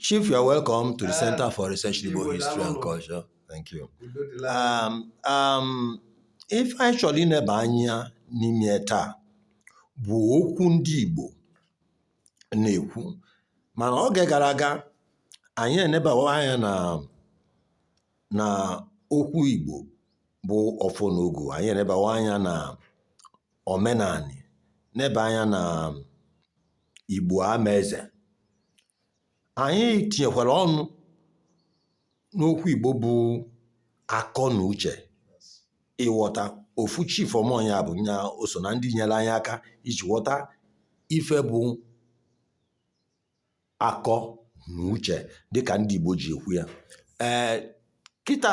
Chief, you are welcome to the Center for Research in Igbo History and Culture. Thank you. Um, um, ife anyị chọrọ ineba anya n'ime taa bụ okwu ndị Igbo na-ekwu mana oge gara aga anyị enebawa anya na na okwu Igbo bụ ọfọ na ogu anyị enebawa anya na omenani neba anya na um, Igbo ama eze. Anyị tinyekwara ọnụ n'okwu Igbo bụ akọ na uche ịghọta ofu chief ọmọnya bụ nya o so na ndị nyere anyị aka iji ghọta ife bụ akọ na uche dịka ndị Igbo ji ekwu ya ee kịta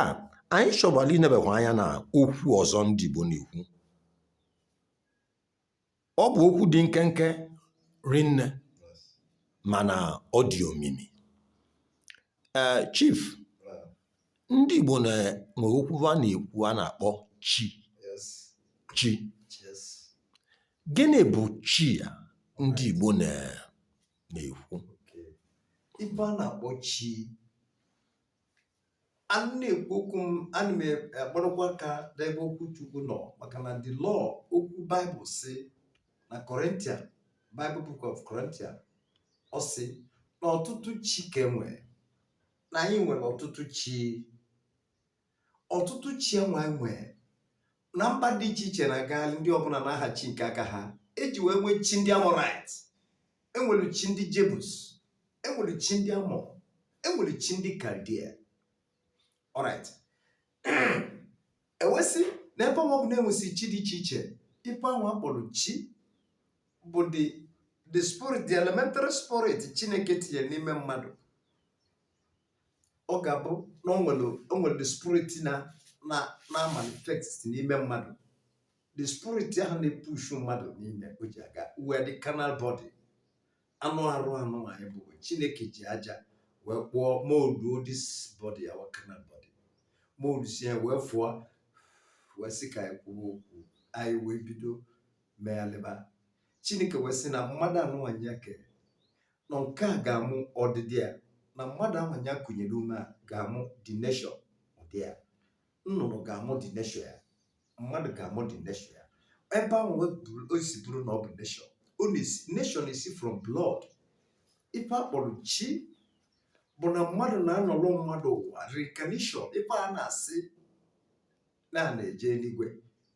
anyị chọbara inebekwa anya na okwu ọzọ ndị Igbo na-ekwu ọ bụ okwu dị nkenke rinne mana ọ dị omimi ee chief ndị Igbo nwere okwu ha na-ekwu a na-akpọ chi chi Gịnị bụ chi a ndị Igbo na na-ekwu? Ife a na-akpọ chi a na-ekwu okwu m ana m akpọrọkwa aka n'ebe okwu Chukwu nọ maka na the law okwu Bible si na Corinthian Bible Book of Corinthian ọ sị na ọtụtụ chi ka e nwe na anyị nwere ọtụtụ chi ọtụtụ chi enwe enwe na mba dị iche iche na gaali ndị ọbụla na aha chi nke aka ha eji wee nwee chi ndị Amorite enwere chi ndị Jebus enwere chi ndị Ammon enwere chi ndị Chaldea alright ewesị na ebe ọ bụ na enwesị chi dị iche iche ife anwa a kpọrọ chi bụ the the spirit the elementary spirit chineke tinyere n'ime mmadụ ọ ga-abụ na o nwere o nwere the spirit na na na manifest n'ime mmadụ the spirit ahụ na-epushu mmadụ n'ime o ji aga we are the carnal body anụ arụ anụ anyị bu chineke ji aja wee kpụọ molduo this body our carnal body moldusịa ya wee fụọ wee sị ka anyị kwuo okwu anyị wee bido meghalịba chineke wee sị na mmadụ anụnwa nya kere na nke a ga-amụ ọdịdị ya na mmadụ anwa nya kụnyere ume a ga-amụ the nation ụdị ya nnụnụ ga-amụ the nation ya mmadụ ga-amụ the nation ya ebe ahụ wee buru- o si bụrụ na ọ bụ nation ọ na-esi nation esi from blood ife a kpọrọ chi bụ na mmadụ na-anọrọ mmadụ ụwa reincarnation ife a na-asị na a na-eje eluigwe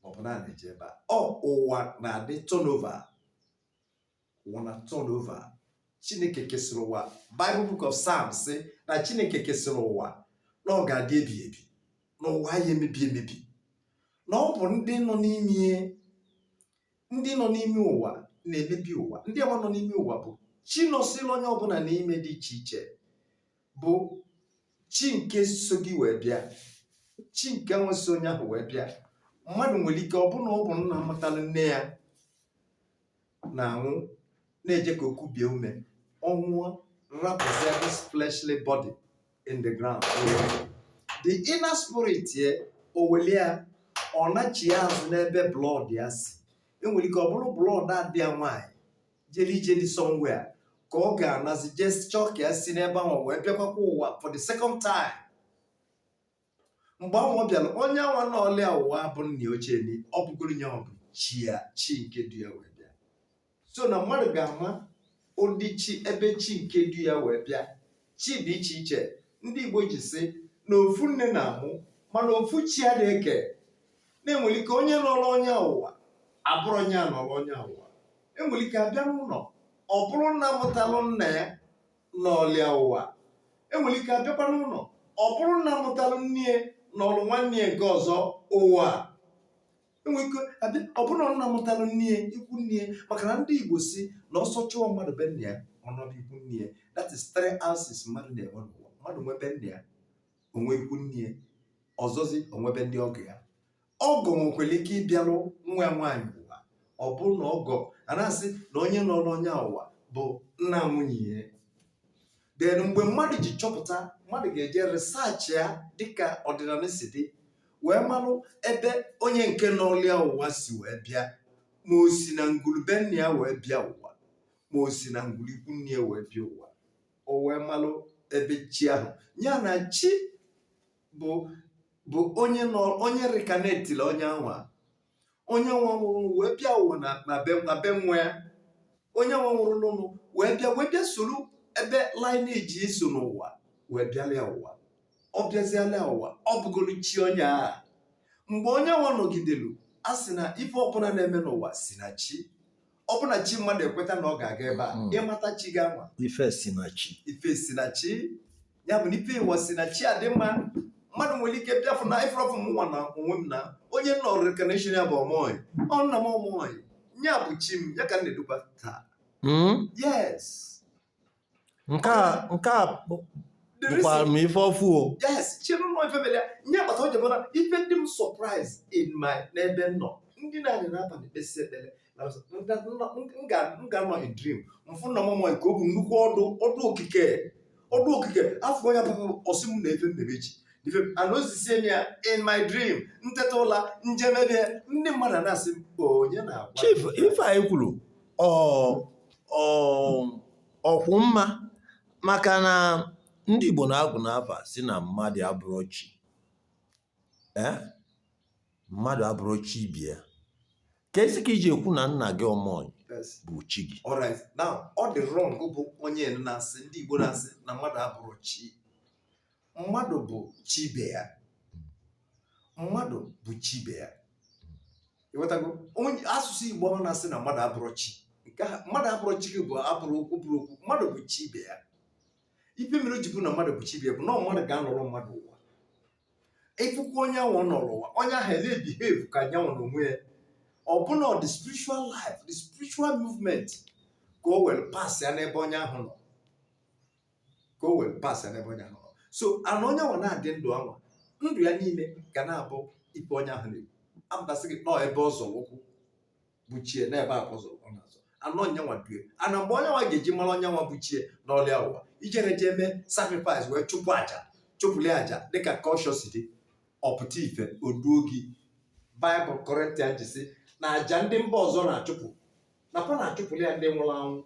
maọbụ na a na-eje ebe a o ụwa na-adị turnover ụwa na turn over chineke kesịrị ụwa bible book of psalms sị na chineke kesịrị ụwa na ọ ga-adị ebighi ebi na ụwa ya emebi emebi na ọ bụ ndị nọ n'ime ndị nọ n'ime ụwa na-emebi ụwa ndị nwa nọ n'ime ụwa bụ chi nọsịrị onye ọbụla n'ime dị iche iche bụ chi nke so gị wee bịa chi nke nwa so onye ahụ wee bịa mmadụ nwere ike ọ bụ na ọ bụ nna mụtara nne ya na-anwụ na-eje ka o kubie ume ọ nwụọ rapụzie this fleshly body in the ground the inner spirit ye o weli ya ọ nachie azụ n'ebe blood ya si enwere ike ọ bụrụ blood ada ya nwaanyị jeli ijeli somewhere ka ọ ga-anazi just chọọ ka ya si n'ebe ahụ wee bịakwakwa ụwa for the second time mgbe anwa bịara onye anwa nọlị ya ụwa bụ nna ochie ni ọ bụgoro onye nwa bụ chi ya chi nke du ya wee bịa so na mmadụ ga-ama ụdị chi ebe chi nke du ya wee bịa chi dị iche iche ndị igbo ji sị na ofu nne na-amụ mana ofu chi adị eke na enwere ike onye nọrọ onye a ụwa abụrụ onye a nọrọ onye a ụwa enwere ike abịa n'ụlọ ọ bụrụ nna mụtalụ nna ya nọlị ya ụwa enwere ike abịakwa n'ụlọ ọ bụrụ nna mụtara nne ya nọrụ nwanne ya nke ọzọ ụwa enwere ike abịa ọ bụrụ na nna mụtara nne ya ikwu nne ya maka na ndị igbo sị na ọsọ chụọ mmadụ be nna ya ọ nọdụ ikwu nne ya that is three houses mmadụ na-enwe n'ụwa mmadụ nwe be nna ya o nwe ikwu nne ya ọzọzi o nwe be ndị ọgọ ya ọgọ nwekwara ike ịbịarụ nwa ya nwaanyị ụwa ọ bụrụ na ọgọ a na-asị na onye nọlụ onye a ụwa bụ nna nwunye ya then mgbe mmadụ ji chọpụta mmadụ ga-eje research ya dịka ọdịnala si dị wee marụ ebe onye nke nọlị ya ụwa si wee bịa ma o si na ngwulu be nna ya wee bịa ụwa ma o si na ngwulu ikwu nne ya wee bịa ụwa o wee marụ ebe chi ahụ ya na chi bụ bụ onye nọ onye reincarnateli onye anwa onye nwa nwụrụ wee bịa ụwa na na be na be nwa ya onye nwa nwụrụ n'ụlọ wee bịa wee bịa soro ebe lineage ya so n'ụwa wee bịalị ya ụwa ọ bịazialị ya ụwa ọ bụgoro chi onye ahụ mgbe onye nwa nọgidelu a sị na ife ọbụla na-eme n'ụwa si na chi ọ bụ na chi mmadụ ekweta na ọ ga-aga ebe a hmm. ị mata chi gị ama ife si na chi ife si na chi ya bụ na ife nwa si na chi adị mma mmadụ nwere ike bịafụ na ifrọfụ m nwa na onwe m na onye m nọrọ reincarnation ya bụ ọmọị ọ nna m ọmọị ya bụ chi m ya ka m na-edukwa taa hmm? yes nke a nke a bụ- The reason- bụkwara m ife ọfụụ o yes chere nwa ife mere ya nye agbata oge mana ife na-adị m surprise in my n'ebe m nọ m dina anị n'abalị kpesịa ekpere na ọzọ, m ga- m nọ- m ga- m ga-anọ in dream m fụ na mama nke ọ bụ nnukwu ọdụ ọdụ okike ọdụ okike afọ ya bụ ọ sị m na ife m na-eme echi ife m- ana o zisie m ya in my dream m teta ụla m je mebe ndị mmadụ na-asị m onye na-agwa chief ife anyị kwuru ọ ọkwụ mma maka na ndị Igbo na-agụ n'afa sị na mmadụ abụrụ chi eh? mmadụ abụrụ chi bịa ka i si ka i ji ekwu na nna gị ọmọnyị bụ chi gị ọ dị wrong bụ onye na-asị ndị Igbo na-asị na mmadụ abụrụ chi mmadụ bụ chi ibe ya mmadụ bụ chi ibe ya ị ghọtago onye asụsụ igbo ọ na-asị na mmadụ abụrụ chi nke a mmadụ abụrụ chi gị bụ abụrụ okwu bụrụ okwu mmadụ bụ chi ibe ya ife mere o ji bụ na mmadụ bụ chi ibe ya bụ na ọ mmadụ ga-anọrọ mmadụ ụwa ị fụkwa onye ahụ ọ nọrọ ụwa onye ahụ na-ebehave ka onye anwa na onwe ya ọ bụ na the spiritual life the spiritual movement ka o were pass ya n'ebe onye ahụ nọ ka o wee pass n'ebe onye ahụ nọ so and onye anwa na-adị ndụ anwa ndụ ya niile ga na-abụ ife onye ahụ na-ekwu apụtasị gị nọọ ebe ọ zọrọ ụkwụ bụ chi e na ebe akwa zọrọ ọ na-azọ anọ onye anwa due and mgbe onye anwa ga-eji mara onye anwa bụ chi e nọlị ya ụwa i jere jee mee sacrifice wee chụpụ aja chụpụli aja dịka culture si dị ọ pụta ife oduo gị Bible Corinthian ji sị na aja ndị mba ọzọ na-achụpụ na fa na-achụpụli ya ndị nwụrụ anwụ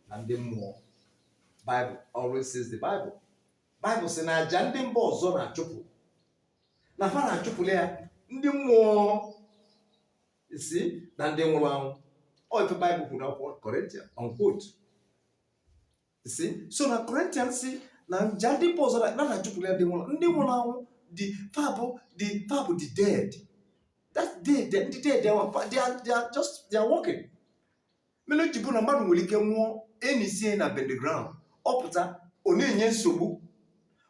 na ndị mmụọ Bible always says the Bible. Bible sị na aja ndị mba ọzọ na-achụpụ na fa na-achụpụla ya ndị mmụọ isi na ndị nwụrụ anwụ ọ ife Bible kwuru na akwụkwọ Corinthian unquote see so na Corinthian sị na aja ndị mba ọzọ na na-achụpụla ya ndị nwụrụ ndị nwụrụ anwụ ndị fa bụ ndị fa bụ the dead that dead ndị dead they are, they are, they are just they are walking mere o ji bụ na mmadụ nwere ike nwụọ e nisie ya na burial ground ọ pụta ọ na-enye nsogbu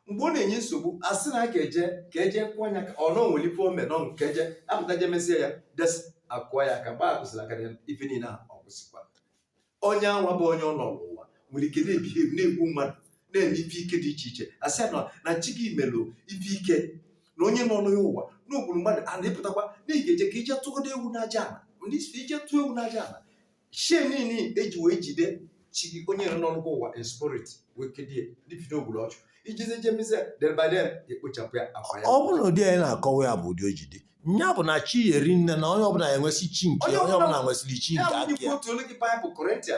mgbe ọ na-enye nsogbu a sị na a ga-eje ka e je kụọ anya ka ọ nọ nwere ife o me nọ nke e je apụta je mesie ya des a kụọ ya aka gbaa kwụsịrị aka ya ife niile a ọ kwụsịkwa onye anwa bụ onye ọ nọ n'ụwa nwere ike na-ebehave na-egbu mmadụ na-eme ife ike dị iche iche a sị ya na na chi gị melụ ife ike na onye nọ n'ụwa ụwa na o gburu mmadụ a na-epụtakwa na ị ga-eje ka i je tụgodo ewu n'aja ala ndị si i je tụọ ewu n'aja ala ihe niile e ji wee jide chi gị onye nọnụ gị ụwa in spirit wee kedie dịbido o gburu ọchụ i jezie je mezie del by del e kpochapụ ya a kwaa ya ọ bụrụ na ụdị anyị na-akọwa ya bụ ụdị o ji dị nya bụ na chi eri nne na onye ọbụla enwesị chi nke Onye ya, onye ọbụla- ọbụla nwesịrị chi ya nke bụ aka ndị ya otu olu gị Bible Corinthia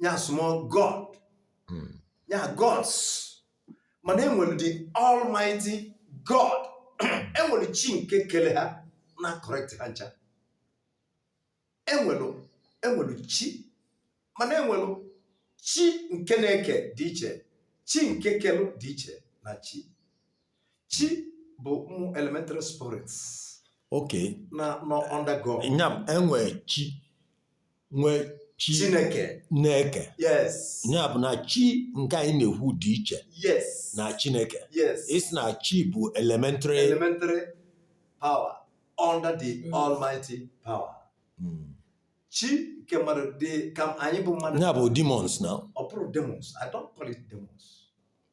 nya small god hmm. nya gods mana enwere the almighty god enwere chi nke kele ha na-correct ha ncha enwere enwere chi mana enwere chi nke na-eke dị iche chi nke kelu dị iche na chi chi bụ ụmụ elementary spirits okay na nọ under god nya enwe chi nwe chi nke na-eke yes ya bụ na chi nke anyị na-ekwu dị iche yes na chineke yes ị sị na chi bụ elementary elementary power under the Mm. almighty power Mm. chi nke mmadụ dị ka anyị bụ mmadụ ya bụ demons na ọ bụrụ demons i don't call it demons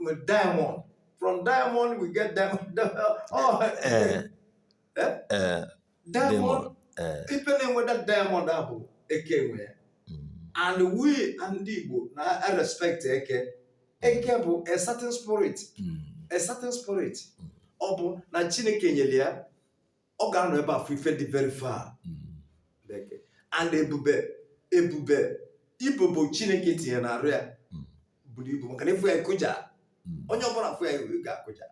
nwe diamond. From diamond, we get diamond. oh, eh, eh? Eh, diamond. Eh. Ibe a na-enweta diamond afụ, eke nwe ya. Mm. And we ndị Igbo na-respect eke. Eke bụ a certain spirit. Mm. A certain spirit. Mm. Ọ bụ na Chineke nyere ya ọ ga-anọ ebe a fụ ife dị very far Chineke. and ebube ebube ibobo chineke tinye na arụ ya buru ibu maka na ị fụ ya ị kụja onye ọbụla fụ ya ga-akụja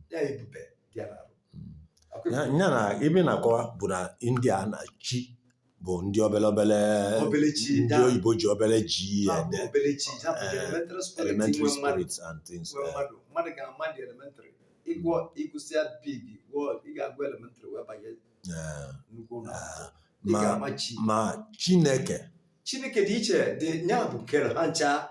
ya ebube dị ya n'arụ Akwa Ya ife- ya na ife ị na-akọwa bụ na ndị a na chi bụ ndị obele obele Obele chi, ndị da- oyibo ji obele g ya Ahụ ede obere chi, ya bụ Eh, elementary spirit elementary nwe mmadụ. spirits and things Nwe eh, mmadụ mmadụ ga-ama the elementary ịgwọ ị gụsịa before ị ga-agụ elementary wee banye eh, nnukwu ụlọ akwụkwọ. Ị ma ga-ama chi ma chineke chineke dị iche dị ya bụ kere ha ncha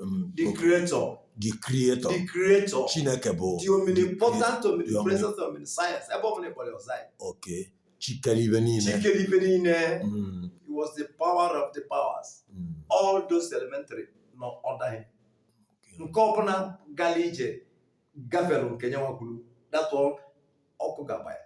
um, the creator, the creator the creator, chineke bụ the omnipotent, omnipresent, omniscience. Ebe ọ bụla ị kpọrọ ya ọ zaa gị. okay chi kere ife niile Chi kere ife niile. Mm, He was the power of the powers. mm, All those elementary nọ under him. Nke ọbụla gara ije gafere nke onye nwe ya kwuru. That's all ọkụ ga-agba ya.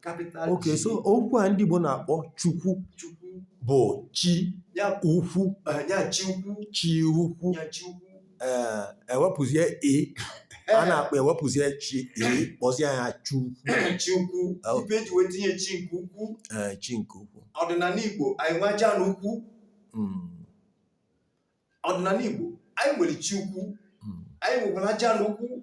capital okay G. so okwu a ndị Igbo na-akpọ chukwu Chukwu. bụ chi Ya bụ ukwu eh, ya chi ukwu. chi ukwu Ya chi ukwu. ee ewepụzie e a na-akpọ ewepụzie chi e kpọzie ya chukwu chi ukwu. Oh. Ife eji wee tinye chi nke ukwu. ee chi nke ukwu Ọdịnanị Igbo anyị nwe Ajana ukwu. Mm, Ọdịnanị Igbo anyị nwere chi ukwu. mm. Anyị nwekwara Ajana ukwu.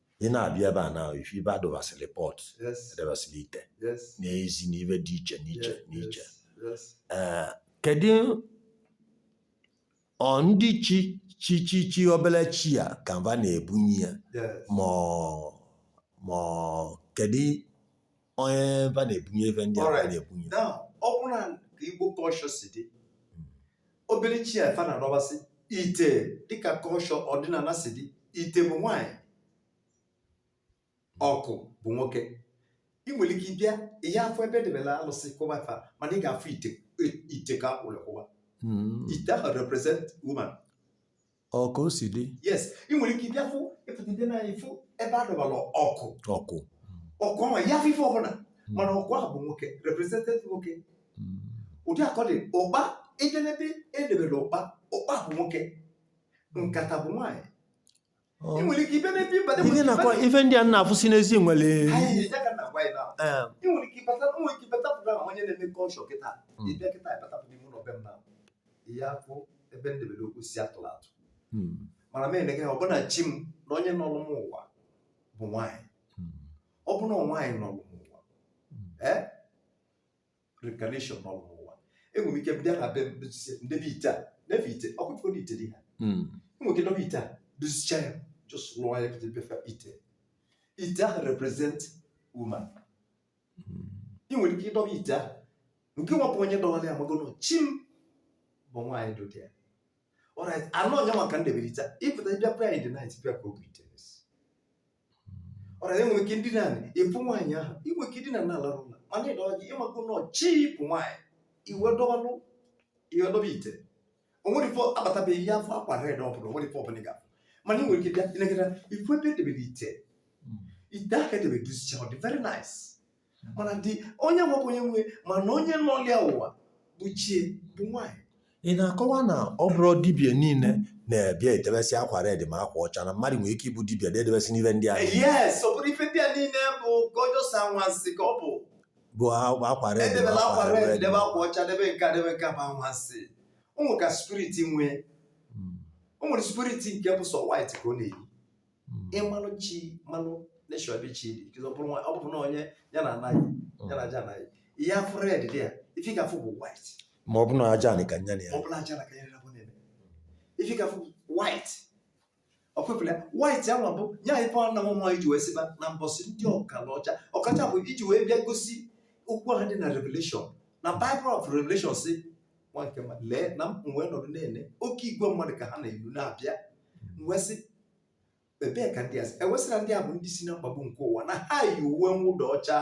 ị na-abịa ebe a na ịfụ ebe adọbasịrị pot Yes. adọbasịrị ite Yes. na-ezi na ife dị iche n'iche Yes. n'iche Yes. Ee, kedu ọ ndị chi chi chi chi obere chi a ka fa na-ebunye ya Yes. ma ọ- ma ọ- kedu onye fa na-ebunye ife ndị a Alright. na-ebunye Now, ọ bụrụ na ka Igbo culture si dị, obere chi a fa na-adọbasị ite dịka culture ọdịnala si dị ite bụ nwaanyị ọkụ bụ nwoke ị nwere ike ịbịa ị ya-afụ ebe edebela alụsị kụwa fa mana ị ga-afụ ite ite ka akpụrụ kụwa Mm. ite ahụ represent woman ọ ka o si dị yes ị nwere ike ịbịa fụ ịpụta ịbịa n'anya fụ ebe a dọbara ọkụ ọkụ ọkụ ahụ ị ya-afụ ife ọbụla mana ọkụ ahụ bụ nwoke represented nwoke Mm. ụdị a ka ọ dị ụkpa ịbịa n'ebe edebere ụkpa ụkpa bụ nwoke nkata bụ nwaanyị Ọ- ị nwere ike ịbịa n'ebe ịbata Ihe na-akọ- ife ndị a na-afụsi n'ezi nwere anyị ya ka na agwa anyị na eh, ị nwere ike ịbata ị nwere ike ịbata pụta ahụ onye na-eme culture kịta Mm. ịbịa kịta ịbata pụta ime ụlọ be m na ị ya-afụ ebe m debere okwu si atụrụ atụ Hmm. mana m eneghe ya ọ bụ na chi m na onye nọrọ m ụwa bụ nwaanyị Hmm. ọ bụrụ na nwaanyị nọrọ m ụwa Hmm. ee reincarnation nọrọ m ụwa enwere m ike bịa na be m dozie m debe ite a na-efe ite ọkụkọ na ite dị ha Hmm. enwere ike dọba ite a dozicha ya just rụọ ya pụta befe ite ite ahụ represent woman ị nwere ike ịdọba ite ahụ nke nwapụ onye dọwara ya mago na chi m bụ nwaanyị dụdị ya alright anụ onye maka m debere ite ịpụta ịbịa prayer in the night bịa ka obi ite alright enwere m ike m dina ịfụ nwaanyị ahụ ị nwe ike ịdina na-alarụ ụla mana ịdọwa gị ị mago na ọ chi bụ nwaanyị i wee dọwanụ i wee dọba ite o nwere ife a bata be gị ị ya-afụ akwa red ọ bụla o nwere ife ọbụla ị ga-afụ mana ị nwere ike bịa ị na-agara ịfụ ebe edebere ite ite ahụ edebe dozicha ọ dị very nice mana dị onye nwekwa onye nwe mana onye nọlụ ya ụwa bụ chi ya bụ nwaanyị ị na-akọwa na ọ bụrọ dibia niile na-abịa edebesị akwa red ma akwa ọcha na mmadụ nwere ike ịbụ dibia na-edebesị n'ife ndị ahụ yes ọ bụrọ ife ndị a niile bụga just anwansi ka ọ bụ bụ akwa akwa red bụ edebela akwa akwa red red debe akwa ọcha debe nke a debe nke a bụ anwansi o nwere ka spirit nwee Mm, o nwere spirit nke bụ sọ white ka ọ na-eyi mm, ịmalụ chi malụ nation ebe chi dị ọ bụrụ nwa- ọ bụrụ na onye ya na anaghị ya na Ajana ị ya-afụ red dị ya ife ị ga-afụ bụ white ma ọ bụ na Ajanị ka nya na ya ọ bụrụ Ajana ka ya rịrabụ na-eme ife ị ga-afụ bụ white ọ kwefula ya white anwa bụ nye anyị pụọ na nwa iji wee sịba na mbọsị ndị ọkalọcha ọkacha bụ iji wee bịa gosi okwu ahụ dị na revelation na bible of revelation si nwa nke mmadụ lee na m wee nọdụ na-ene oke igwe mmadụ ka ha na-eru na-abịa m wee sị ebee ka ndị a si e wee sị na ndị a bụ ndị si na mkpagbu nke ụwa na ha yi uwe mwụda ọcha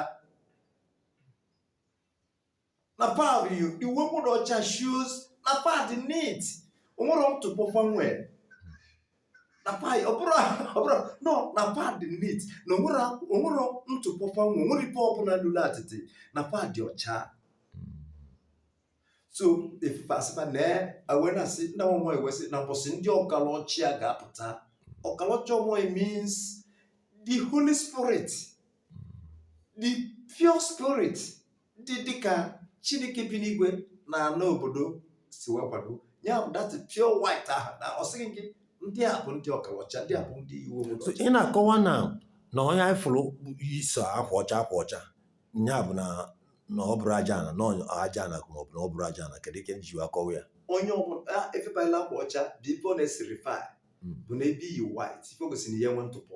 na fa yi uwe mwụda ọcha shows na fa dị neat o nwero ntụpọ fa nwee na fa dị ọbụrụ ọbụrụ no na fa dị neat na o nwero o nwero ntụpọ fa nwee o nwero ife ọbụla lụrụ atịtị na fa dị ọcha so efufe asịba na awe na asị na nwa e wee sị na mbọsị ndị ọkalọcha ga-apụta ọkalọcha mmụọ means the holy spirit the pure spirit dị dịka chineke bi n'igwe na ana obodo si wee kwado ya bụ that pure white ahụ na ọ sị gị ndị a bụ ndị ọkalọcha ndị a bụ ndị iwu obodo So, ị na-akọwa na na onye anyị fụrụ yi sọ akwa ọcha akwa ọcha ya bụ na na ọ bụrụ aja ana na ọ- aja ana ma ọ bụ na ọ bụrụ aja ana kedu ike nji akọwa ya onye ọbụla efebala akwa ọcha bụ ife ọ na-esignify Mm. bụ na ebe e yi white ife o gosiri na ihe nwe ntụpọ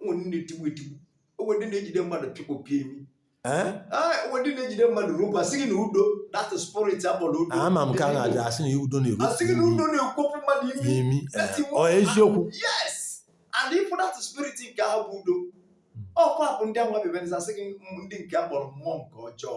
onwe ndị na-etigbu etigbu onwe ndị na-ejide mmadụ pịkpọpịa imi Eh? Ah, onwe ndị na-ejide mmadụ ropu asị gị na udo that is spirit akpọrọ udo ama m ka a na-aja asị na udo na-eru asị gị na udo na-ekwopụ mmadụ imi n'imi eh, That's the ọ eziokwu yes and ịfụ that spirit nke ahụ bụ udo ọkwa bụ ndị ahụ mebebere asị gị ndị nke a kpọrọ mmụọ nke ọjọọ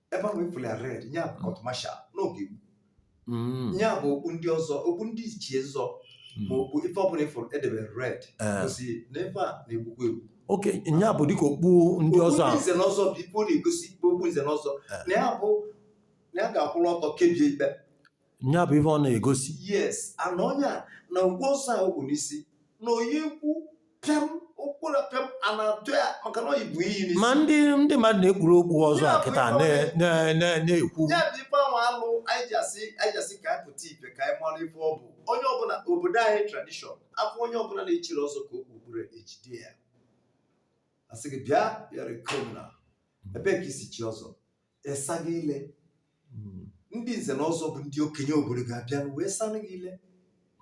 ebe ahụ ị fụlụ ya red ya bụ court martial n'oge gboo. Mm. ya bụ okpu ndị ọzọ okpu ndị ichie ọzọ ma okpu ife ọbụla ị fụrụ e debere red Eh. gosi na ebe a na-egbukwa egbu okay nya bụ dịka okpu ndị ọzọ okpu nze na ọzọ bụ ife ọ na-egosi okpu nze na ọzọ Eh. na ya bụ na ya ga-akwụrụ ọtọ kebie ikpe nya bụ ife ọ na-egosi yes ana onye a na ngwa ọzọ a okpu n'isi na oyi ikwu pịam ụkwụ na pịam a na-atụ ya maka na ọ bụ iyi n'isi ma ndị ndị mmadụ na-ekpuru okpu ọzọ a kịta na- na- na- na-ekwu ya bụ ife ahụ alụ anyị ji asị anyị ji asị ka anyị pụta ife ka anyị mara ife ọ bụ onye ọbụla obodo anyị tradition afọ onye ọbụla na-echiri ọzọ ka okpu okpuru ejide ya asị gị bịa yọrọ iko na ebee ka i si chi ọzọ esa gị ile Mm. ndị nze na ọzọ bụ ndị okenye obodo ga-abịa wee sanụ gị ile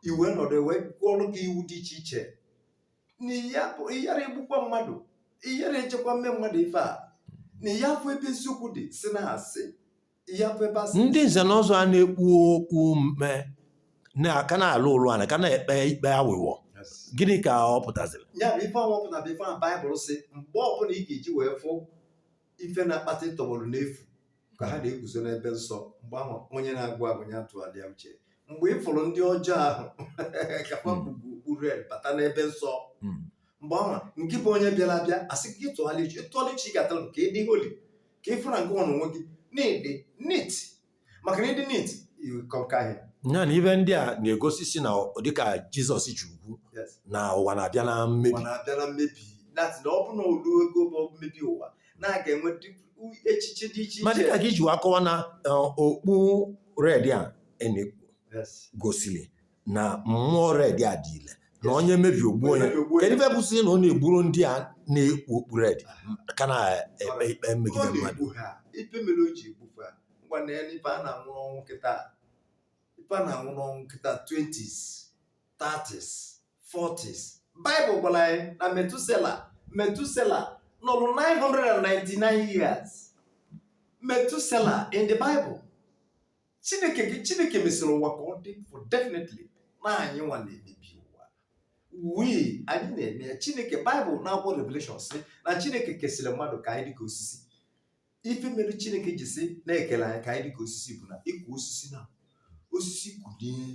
e wee nọdụ wee gụọrụ gị iwu dị iche iche na ya bụ ịyara egbukwa mmadụ ịyara ejekwa mee mmadụ ife a na ya bụ ebe eziokwu dị si na asị ya bụ ebe asị ndị nze na ọzọ a na-ekpu okpu mme na-aka na-alụ ụlụ ana ka na-ekpe ikpe awụwọ gịnị ka ọ pụtaziri ya bụ ife ọnwa pụtara bụ ife ahụ baịbụl si mgbe ọbụla ị ga-eji wee fụ ife na-akpata ịtọgbọrọ n'efu ka ha na-eguzo n'ebe nsọ mgbe ahụ onye na-agụ agụ ya tụgharịa uche mgbe ị fụrụ ndị ọjọọ ahụ ka fa Mm. kpu okpu red bata n'ebe nsọ Mm. mgbe ahụ ngị bụ onye bịara abịa a sị gị tụgharịa uche tụgharịa uche ị ga-atraị ka ị dị holy ka ị fụ na ngị nwa onwe gị na-adị neat maka na ịdị neat kọnka ihe ya na ive ndị a na-egosi si na ọ- dịka jizọs ji ekwu Yes. na ụwa na-abịa na ụwa mmebi na-abịa na mmebi nati na ọ bụ na o lue oge ma ọ bụ mmebi ụwa na a ga-enwe dị- u- echiche dị iche ma iche dịka ka iji wee akọwa na eh, okpu red a a na-ekpu Yes. gosiri na mmụọ red a dị ile na onye mebie o gbuo onye Onye mebie o gbuo onye. kedu ife bụzi na ọ na-egburọ ndị a na-ekpu okpu red ka na-ekpe ikpe megide Ọ mmadụ na-egbu ha ife mere o ji egbufe ha ngwa na ya na ife a na-anwụ n'ọnwụ kịta ife a na-anwụ n'ọnwụ kịta 20s 30s 40s Baịbụl gwara anyị na Metusela Metusela nọrụ 999 years Metusela in the Bible chineke gị chineke mesịrị ụwa ka ọ dị for definitely na anyị nwa na-emebi ụwa wee anyị na-eme ya chineke baịbụl n'akwụkwọ revelation sị na chineke kesịrị mmadụ ka anyị dịka osisi ife mere chineke ji sị na e kere anyị ka anyị dịka osisi bụ na ị kụọ osisi na osisi kwụdebe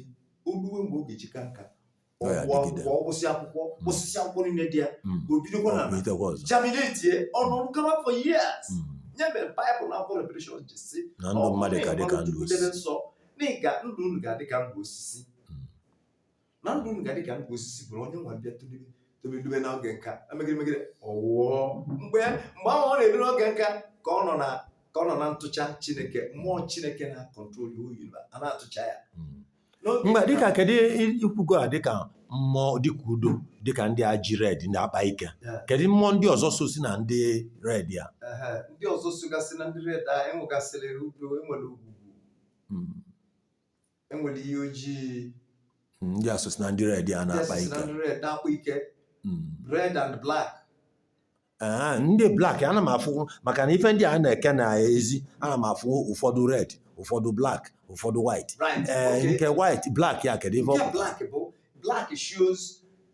o lue mgbe ọ ga-eji kaa nka ọ Ọ ya gwụọ adịgide. akwụkwọ ọ wụsị akwụkwọ Mm. osisi akwụkwọ niile dị ya Mm. o bidokwa Ọ na bụ itekwa ọzọ. germinatie ọ nọrọ gaba for years Mm. nya mere baịbụl na akwụkwọ revelation ji si na ndụ mmadụ ga-adị ka ndụ debe osisi nsọ na ị ga ndụ unu ga-adị ka ndụ osisi Mm. na ndụ unu ga-adị ka ndụ osisi bụrụ onye nwa bịa tolebe tolebe dobe n'oge nka emegide megide ọ nwụọ mgbe mgbe ahụ ọ na-eru n'oge nka ka ọ nọ na ka ọ nọ na ntụcha chineke mmụọ chineke na-akọntrol ya oyi a na-atụcha ya Mm. mgbe dịka kedu i kwugo a dịka mmụọ dịka udo dịka ndị a ji red ndị akpa ike kedu mmụọ ndị ọzọ sozi na ndị red a ndị ọzọ sogasị na ndị red a enwegasịrị udo enwere ogwugwu hmm. enwere iyi oji hmm, ndị a sozi na ndị red a na-akpa ike red and black Ee, ndị black ana m afụ maka na ife ndị a na-eke n'ezi ana m afụ ụfọdụ red ụfọdụ black ụfọdụ white Right, ee okay. nke white black ya kedu ife ọ nke pụtara? black bụ black shows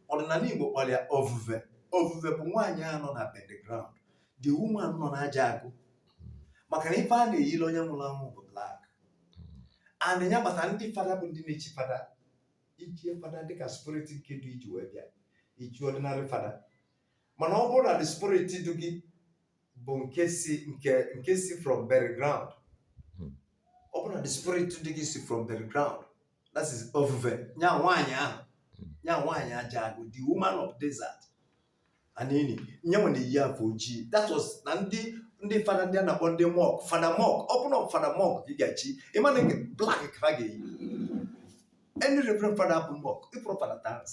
ọdịnala igbo kpọrọ ya ovuve ovuve bụ nwaanyị a nọ na underground the woman nọ n'aja agụ maka na ife a na-eyiri onye nwụrụ anwụ bụ black and ya kpata ndị fada bụ ndị na-echi fada ichie fada dịka spirit nke dị iji wee bịa ichi ọdịnarị fada mana ọ bụrụ na the spirit du gị bụ nke si nke nke si from bury ground Hmm. ọ bụrụ na the spirit du gị si from bury ground that is ofufe nya nwaanyị ahụ nya nwaanyị aja agụ the woman of desert anini nyanwa na-eyi afe ojii that was na ndị ndị fada ndị a na-akpọ ndị monk fada monk ọ bụrụ na fada monk ka ị ga-echi ị ma na nke black ka ha ga-eyi any reverend fada bụ monk ịpụrụ fada dance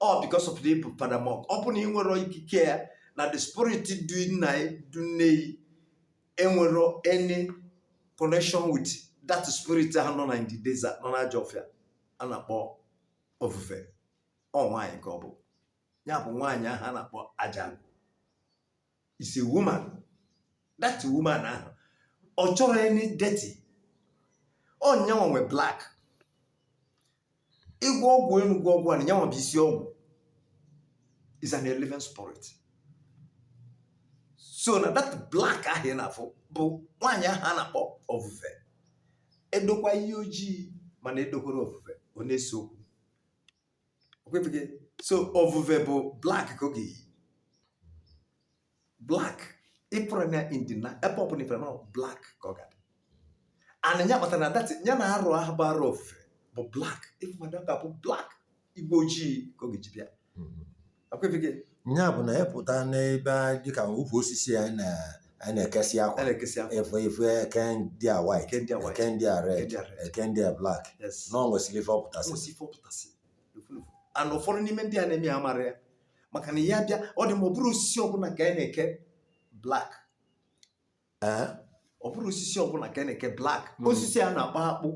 ọ because of the fada monk ọ bụna ị nwere ikike ya na the spirit du nna ya du nne ya enwero any connection with that spirit ahụ nọ na in the desert nọ n'ajọ ọfịa a na-akpọ ofufe ọ nwaanyị ka ọ bụ ya bụ nwaanyị ahụ a na-akpọ aja is a woman that woman ahụ ọ chọrọ any dirty ọ nyanwa nwe black ị gwọ ọgwụ enu gwọ ọgwụ ana nyanwa bụ isi ọgwụ is an eleven spirit so na that black ahụ ị na-afụ bụ nwaanyị ahụ a na-akpọ ofufe e dokwa ihe ojii mana edokwara ofufe ọ na-ese okwu okwebeghị so ovuve bụ black ka ọ ga-eyi black ị pụrụ na India na ebe ọ bụla ị fụrụ ya na black ka ọ ga-adị and nya kpatara na that nya na arụ ahụ bụ arụ ofufe bụ black ịfụ mmadụ ọ ga-abụ black igbo ojii ka ọ ga-eji bịa nya bụ na a pụta n'ebe dịka ukwu osisi anyị na-ekesị akwa ị fụ ị fụ e kee ndị a white e kee ndị a red e kee ndị a black na ọ nwesịrị ife ọ pụtasị and ụfọdụ n'ime ndị a na-eme ya amarọ ya maka na ya bịa ọ dị ma ọ bụrọ osisi ọbụla ka anyị na-eke black Eh? ọ bụrọ osisi ọbụla ka a na-eke black Mm. osisi a na-akpọ akpụ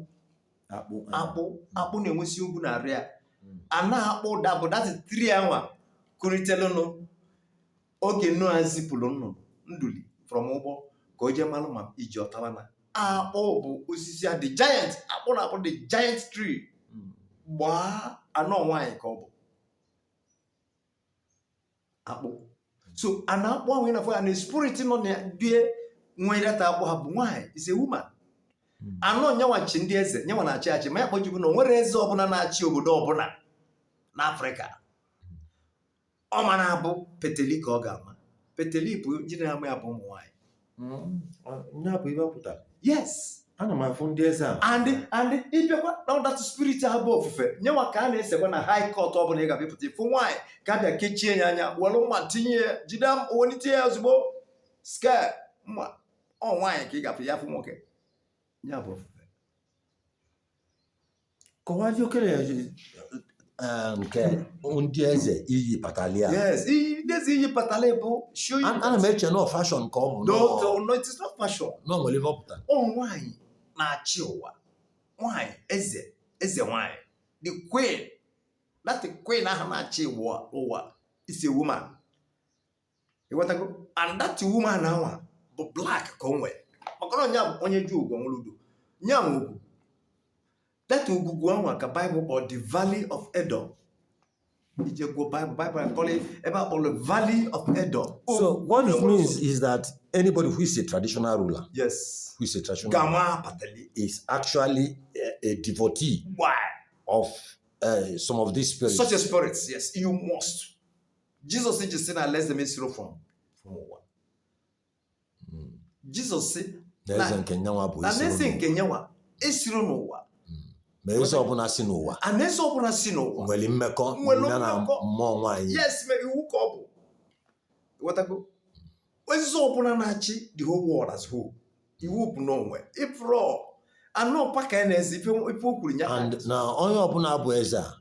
akpụ eh. akpụ akpụ na-enwesi ogwu na arụ ya Mm. and akpụ ụda bụ that tree anwa kuritelu enu oge Noa zipụrụ nnụnụ nduli from ụgbọ ka o jee malụ ma iji ọ tara na akpụ bụ osisi a the giant akpụ na-abụ the giant tree Mm. gbaa and ọ nwaanyị ka ọ bụ akpụ so na akpụ ahụ ị na-afụ ya na spirit nọ na there nwe that akpụ ahụ bụ nwaanyị is a woman hmm. and ọ nyanwa chi ndị eze nyanwa na-achị achị ma ya ka o ji bụ na o nwerọ eze ọbụla na-achị obodo ọbụla n'Afrịka ọ ma na-abụ peteli ka ọ ga-ama peteli bụ ndị na-ama ya bụ ụmụ nwaanyị Mm, ya bụ ibe pụta yes ana m afụ ndị eze a and and ị bịakwa na ọ that spirit a bụ ofufe nyanwa ka a na-esekwa na high court ọ bụla ị ga-abịapụta ị fụ nwaanyị ka a bịa kechie ya anya were mma tinye ya jide mma o welite ya ozugbo scale mma ọ nwaanyị ka ị ga-afụ ya afụ nwoke ya bụ ofufe kọwazie okere ya ji eh, nke ndị eze iyi patali a yes iyi- this iyi patali bụ show you An- ana m eche na ọ fashion ka ọ bụ no nọ- no no it is not fashion na ọ nwere ife ọ pụtara ọ nwanyị na-achị ụwa nwanyị eze eze nwanyị the queen that queen ahụ na-achị ụwa ụwa is a woman ịghọtago and that woman ahụ bụ black ka o nwere maka na onye a bụ onye ji ogwugwu nwere udo nya bụ ogwugwu that ogwugwu ahụ ka bible kpọrọ the valley of edom i jee gụọ bible bible akọrọ ebe a kpọrọ valley of edom So what it means is that anybody who is a traditional ruler, yes who is a traditional ruler, gama patali is actually a, a devotee of uh, some of these spirits. such a spirit yes you must jizọs ji sị na alaeze m esiro from from ụwa Mm. jizọs sị na eze Na- nke nya nwa bụ na isi alaeze ụlọ. nke nya nwa esiro n'ụwa ma eze ọbụla si n'ụwa alaeze ọbụla si n'ụwa nwere mmekọ Nwere ya na mmekọ. mmụọ nwaanyị yes mere iwu ka ọ bụ ịghọtago eze ọbụla na-achị the whole world as whole iwu bụ n'onwe ịpụrụ a n'ọkpa ka ya na-ezi ife ife o kwuru ya and na onye ọbụla bụ eze a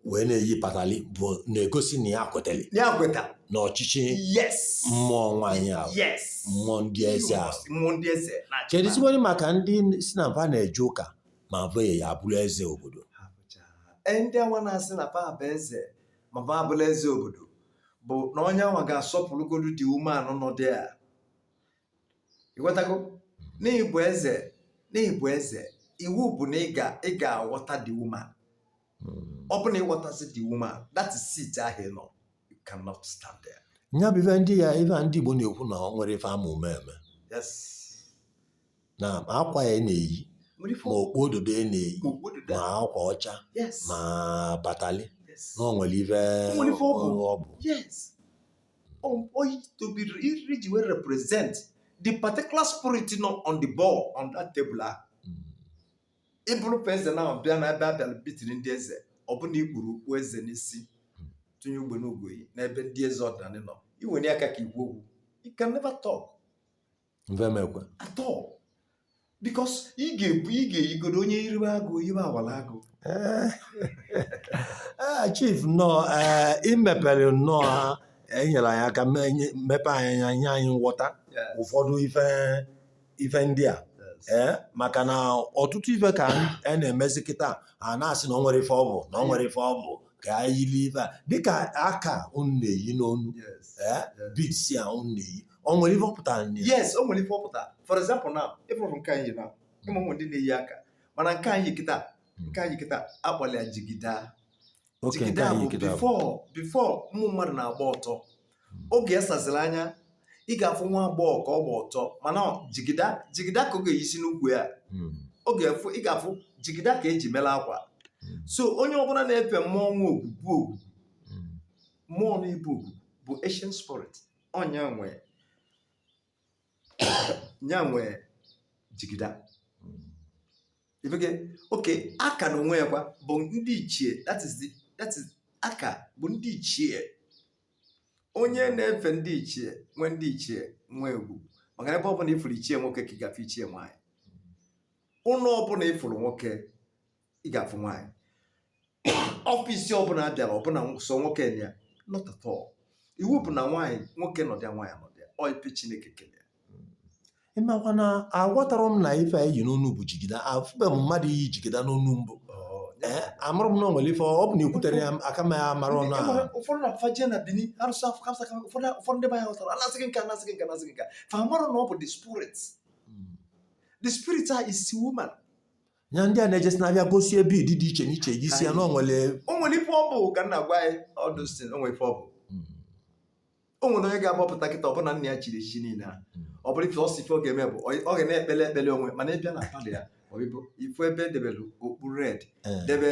wee na-eyi patali bụ na-egosi na ya kwetara ya kweta na ọchịchị yes mmụọ nwaanyị ahụ yes mmụọ ndị eze ahụ mmụọ ndị eze na-achị kedu zikwere maka ndị sị na mfa na-eje ụka ma bụ ya abụrụ eze obodo ha bụcha Ee, ndị anwa na-asị na fa bụ eze ma fa abụla eze obodo bụ na onye anwa ga-asọpụrụgodu the woman ahụ nọ there ịghọtago n'ịbụ eze n'ịbụ eze iwu bụ na ị ga-aghọta the woman hmm. ọ bụ na ịghọtazi the woman that seat ahụ ị nọ you cannot stand there. nya bụ ife ndị ya ife ndị Igbo na-ekwu na ọ nwere ife ama ume eme na akwa ya na-eyi ma okpu ododo ya na-eyi ma akwa ọcha ma patali na ọ nwere ife ọ bụ um, to be eji wee represent the particular spirit nọ on the ball on that table ahụ ịbụrụ pa eze na bịa na ebe a bịara bitiri ndị eze ọ bụ na i kpuru okpu eze n'isi tụnye ugbene ugo n'ebe ndị eze ọdịnala nọ i wenie aka ka i kwuo okwu you can never talk mfa ama ekwe at all because ị ga-ebu ị ga-eyigodo onye iriwe agụ yiwe awala agụ ee chief nnọọ ee imepere nnọọ ha enyere anyị aka me- nye- mepe anyị anya nye anyị nghọta Yeah. ụfọdụ ife ife ndị a ee maka na ọtụtụ ife ka a na-emezi kịta a na-asị na ọ nwere ife ọ bụ na ọ nwere ife ọ bụ ka anyị yiri ife a dịka aka unu na-eyi n'onu Yes. ee beads a unu na-eyi o nwere ife ọ pụtara na ya yes o nwere ife ọ pụtara for example now ịfụrụ nke a m yi na ịma ụmụ ndị na-eyi aka mana nke a m yi kịta nke a m yi kịta akpọlụ ya jigida okay nke jigida bụ anyị kịta bụ before before ụmụ mmadụ na-agba ọtọ oge esaziri anya ị ga-afụ nwa agbọghọ ka ọ gba ọtọ mana ọ jigida jigida ka ọ ga-eyisi n'ukwu ya Mm, ọ ga-efu ị ga-afụ jigida ka eji mere akwa Mm. so onye ọbụla na-efe mmụọ nwa ogwugwu ogwu mm, mmụọ na-ebu ogwu bụ ancient spirit ọ nya nwe nya nwe jigida okay aka n'onwe ya kwa bụ ndị ichie that is the that is aka bụ ndị ichie onye na-efe ndị ichie nwee ndị ichie nwe egwu maka ebe ọ bụla ịfụrụ ichie nwoke ka ị ga-afụ ichie nwaanyị ụlọ ọbụla ịfụrụ nwoke ị ga-afụ nwaanyị office ọbụla abịara ọ bụ na sọ nwoke na ya not at all iwu bụ na nwaanyị nwoke nọdịa nwaanyị nọdịa ọ ife chineke kele ya ịmakwa na aghọtara m na ife a i yi n'onu bụ jigida afụbe m mmadụ iyi jigida n'onu mbụ ee amarọ m na o nwere ife ọ bụ na ekwutere ya ka m mara ọnụ ahụ ụfọdụ na fafa jee na bini arụsị afọ kamsa kam ụfọdụ ụfọdụ ndị be anyị ghọtara anasị gị nke anasị gị nke anasị gị nke fa amarọ na ọ bụ the spirit the spirit a is woman ya ndị a na-ejesi na-abịa gosi ebe ị dị iche n'iche gị si ya na o nwere o nwere ife ọ bụ ka m na-agwa anyị ọdụ si o nwere ife ọ bụ o nwere onye ga-agbapụta kịta ọbụna nna ya chiri echichi niile a ọ bụrụ ife ọsọ ife ọ ga-eme bụ ọ- ọ ga na-ekpele ekpele onwe mana ịbịa na parlour ya ọ bụ ị fụ ebe edebere okpu red Eh. debe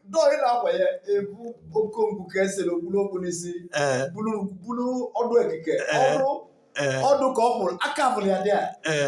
dọọ ịla akwa ya ebu okonkwo ka esere o kpuru okpu n'isi ee bulu bulu ọdụ ekike Ee. ọdụ ee ọdụ ka ọ kwụrụ aka bụrụ ya dị a ee